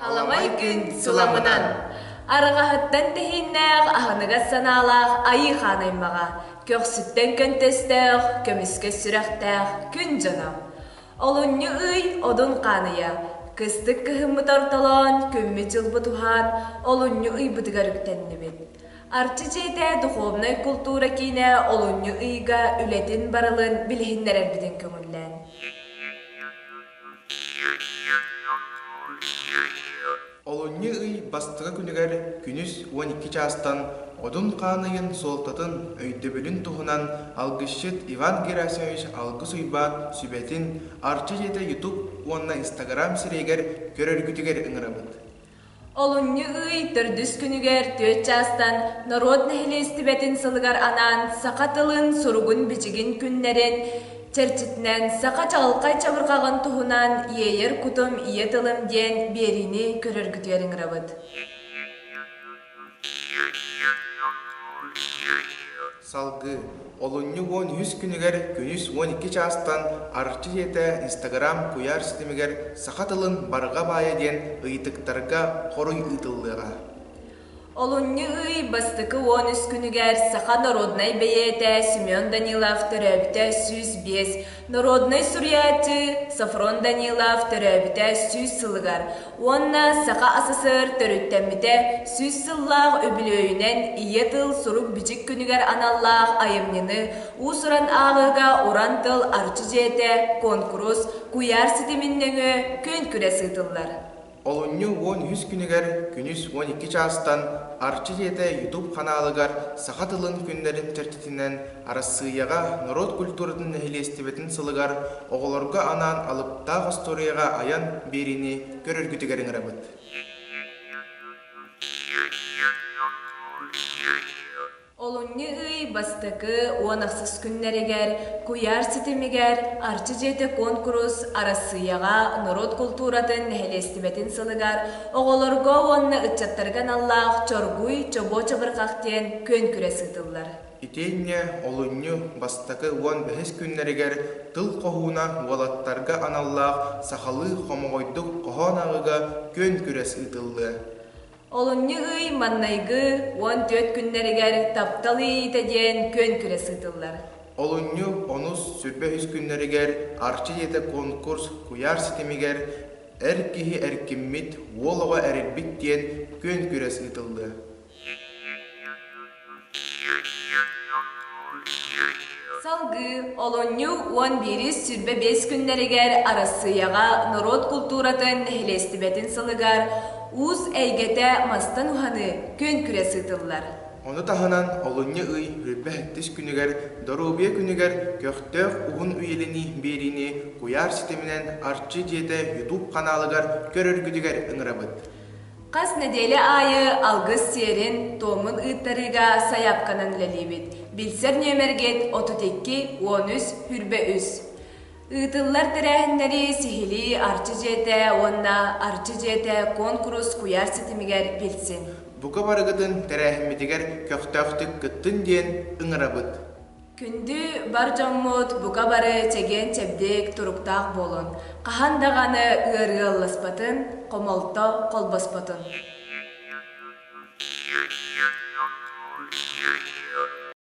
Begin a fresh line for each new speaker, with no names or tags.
Аламай күн суламынан Арҕаһыттан тэһииннээх аһыныгас санаалаах Айыы хаан аймаҕа көхсүттэн көнтөстөөх көмүскэ сүрэхтээх күн дьоно олунньу ый одун хааныйа кыстык кыһыммыт ортолоон күммүт дьылбыт уһаан олунньу ыйбытыгар үктэннибит Арчы дьиэтэ духовнай култуура киинэ олунньу ыйга үлэтин барылын билиһиннэрэрбитин көҥүллээн. Олунньу ый бастакы күнүгэр күнүс уон икки чаастан Одун хаан ыйын суолтатын өйдөбүлүн туһунан алгысчыт Иван Герасимович Алгыс Уйбаан сүбэтин Арчы дьиэтэ YouTube уонна Instagram сирэйигэр көрөргүтүгэр ыҥырабыт. Олунньу ый төрдүс күнүгэр түөрт чаастан норуот нэһилиэстибэтин сылыгар анаан саха тылын суругун-бичигин күннэрин чэрчитинэн саха чаҕылхай чабырҕаҕын туһунан «Иэйэр кутум ийэ тылым» диэн биэриини көрөргүтүөр ыҥырабыт Салгыы олунньу уон үһүс күнүгэр күнүс уон икки чаастан Арчы ийэтэ Инстаграм куйаар ситимигэр саха тылын барҕа баайа диэн ыйытыктарга хоруй ыытыллыаҕа. Олунньу ый бастакы уон үс күнүгэр саха народнай бэйиэтэ Семен Данилов төрөөбүтэ сүүс биэс, народнай суруйааччы Сафрон Данилов төрөөбүтэ сүүс сылыгар, Уонна Саха СССР төрүттэммитэ сүүс сыллаах үбүлүөйүнэн Ийэ тыл сурук-бичик күнүгэр аналлаах айымньыны уус-уран ааҕыыга Уран тыл Арчы дьиэтэ куонкурус куйаар ситимин нөҥүө күөн-күрэс ыытыллар. Олунньу уон үһүс күнүгэр күнүс уон икки чаастан Арчы дьиэтэ ютуб ханаалыгар саха тылын күннэрин чэрчитинэн Арассыыйаҕа норуот культуратын нэһилиэстибэтин сылыгар оҕолорго анаан алыптаах остуоруйаҕа айан биэриини көрөргүтүгэр ыҥырабыт. Олунньу ый бастакы уон ахсыс күннэригэр куйаар ситимигэр Арчы дьиэтэ куонкурус Арассыыйаҕа норуот култууратын нэһилиэстибэтин сылыгар оҕолорго уонна ыччаттарга аналлаах Чоргуй чобуо чабырҕах диэн күөнкүрэс ыытыллар. Итиэннэ олунньу бастакы уон бэһис күннэригэр Тыл хоһууна уолаттарга аналлаах сахалыы хомоҕойдук хоһоон ааҕыыга күөн-күрэс ыытыллыа. Олунньу ый маҥнайгы уон түөрт күннэригэр Таптал иэйиитэ диэн күөн-күрэс ыытыллар. Олунньу онус сүрбэ үһүс күннэригэр Арчы дьиэтэ конкурс куйаар ситимигэр Эр киһи эркиммит, уол оҕо эрирбит диэн күөн-күрэс ыытыллыа. Салгыы олунньу уон биирис сүүрбэ биэс күннэригэр Арассыыйаҕа норуот култууратын нэһилиэстибэтин сылыгар уус эйгэтэ мастан уһаныы күөн-күрэс ыытыллар. Ону таһынан олунньу ый бүлбэһэттис күнүгэр, доруобуйа күнүгэр көхтөөх уһун үйэлэнии биэриини куйаар ситиминэн Арчы дьиэтэ YouTube ханаалыгар көрөргүтүгэр ыҥырабыт. Хас нэдиэлэ аайы алгыс сиэрин, туомун ыыттарыыга сайаапканан үлэлиибит. Билсэр нүөмэргит отут икки, уон үс, сүүрбэ үс. Ыытыллар тэрээһиннэри сиһилии Арчы дьиэтэ уонна Арчы дьиэтэ куонкурус куйаар ситимигэр билсин. Бука барыгытын тэрээһиммитигэр көхтөөхтүк кыттын диэн ыҥырабыт. Күндү бар дьоммут, бука бары чэгиэн-чэбдик, туруктаах буолун! Хаһан даҕаны ыарыы алласпатын, хомолто холбоспотун!